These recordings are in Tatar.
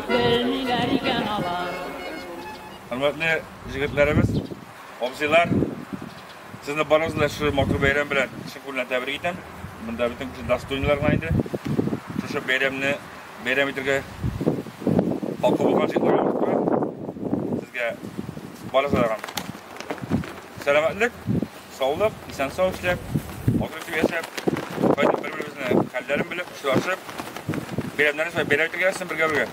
Белмиләр икән алар. Хөрмәтле җегетләребез, абзыйлар, сезне барыгызны да шушы матур бәйрәм белән чын күңелдән тәбрик итәм. Монда бөтен кеше достойныйлар гына инде. Шушы бәйрәмне бәйрәм итергә хакы булган җегетләргә матура. Сезгә барыгызга да сәламәтлек, Саулык, исән-сау эшләп, матур итеп яшәп, кайтып бер-беребезнең хәлләрен белеп, очрашып, бәйрәмнәрне шулай бәйрәм итергә ясасын бергә-бергә.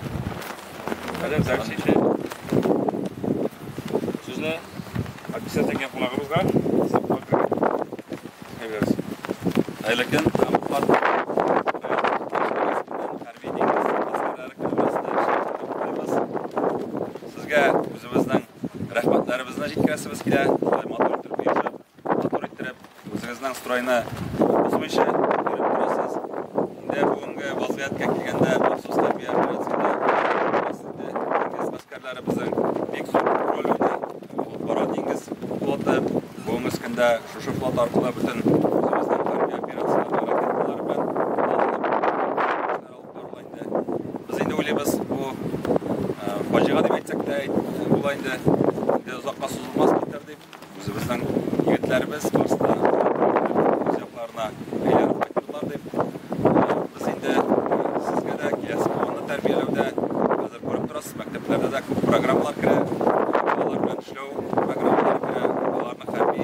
Хәзер дәрес итте. Сүзне Акиса тәңгән кунагыбызга Әйбәс. Айлыкен Сезгә үзебезнең Рәхмәтләребезне җиткерәсебез килә, шулай матур итеп оешып, матур иттереп, үзегезнең стройны бозмыйча биреп торасыз. Инде бүгенге вазгыятькә килгәндә, махсус хәрби операциядә диңгез гаскәрләребезнең бик зур роль уйный. Алып бара диңгез флоты. Бүгенге көндә шушы флот аркылы бөтен үзебезнең хәрби операцияләрдә ракеталар белән Без инде уйлыйбыз, бу фаҗига дип әйтсәк тә була инде. Инде озакка сузылмас бетер дип, үзебезнең егетләребез барысы үз якларына әйләнеп кайтырлар дип. Без инде сезгә дә киләсе буынны тәрбияләүдә хәзер күреп торасыз, мәктәпләрдә дә күп программалар керә, балалар белән эшләү программалары керә, балаларның хәрби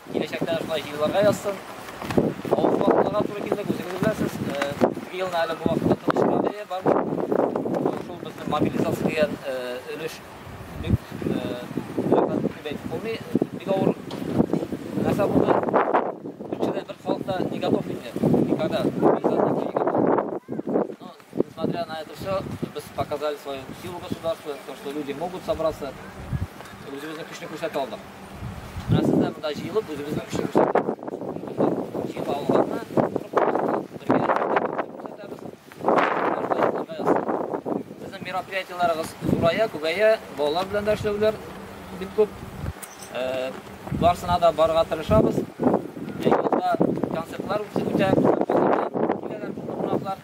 Киләчәктә дә шулай җыелырга язсын. Авыр вакытларга туры килдек, үзегез беләсез. Ике елны әле бу вакытта тынычлык бәя бар. Шул безнең мобилизация дигән өлеш бик рәхәт дип әйтеп булмый. Бик авыр нәрсә булды. Көнчелек бер халыкта не готов инде никогда. Несмотря на это все, без показали свою силу государства, то, что люди могут собраться, үзебезнең көчне күрсәтә алдык. Менә сез дә монда җыелып, үзебезнең көчне күрсәттегез. Җыелып алганны, бергә күрсәтәбез. Безнең мероприятиеләребез зурая, күбәя, балалар белән дә эшләүләр бик күп. Барсына да барырга тырышабыз. Юлда концертлар үтә, киләләр кунаклар.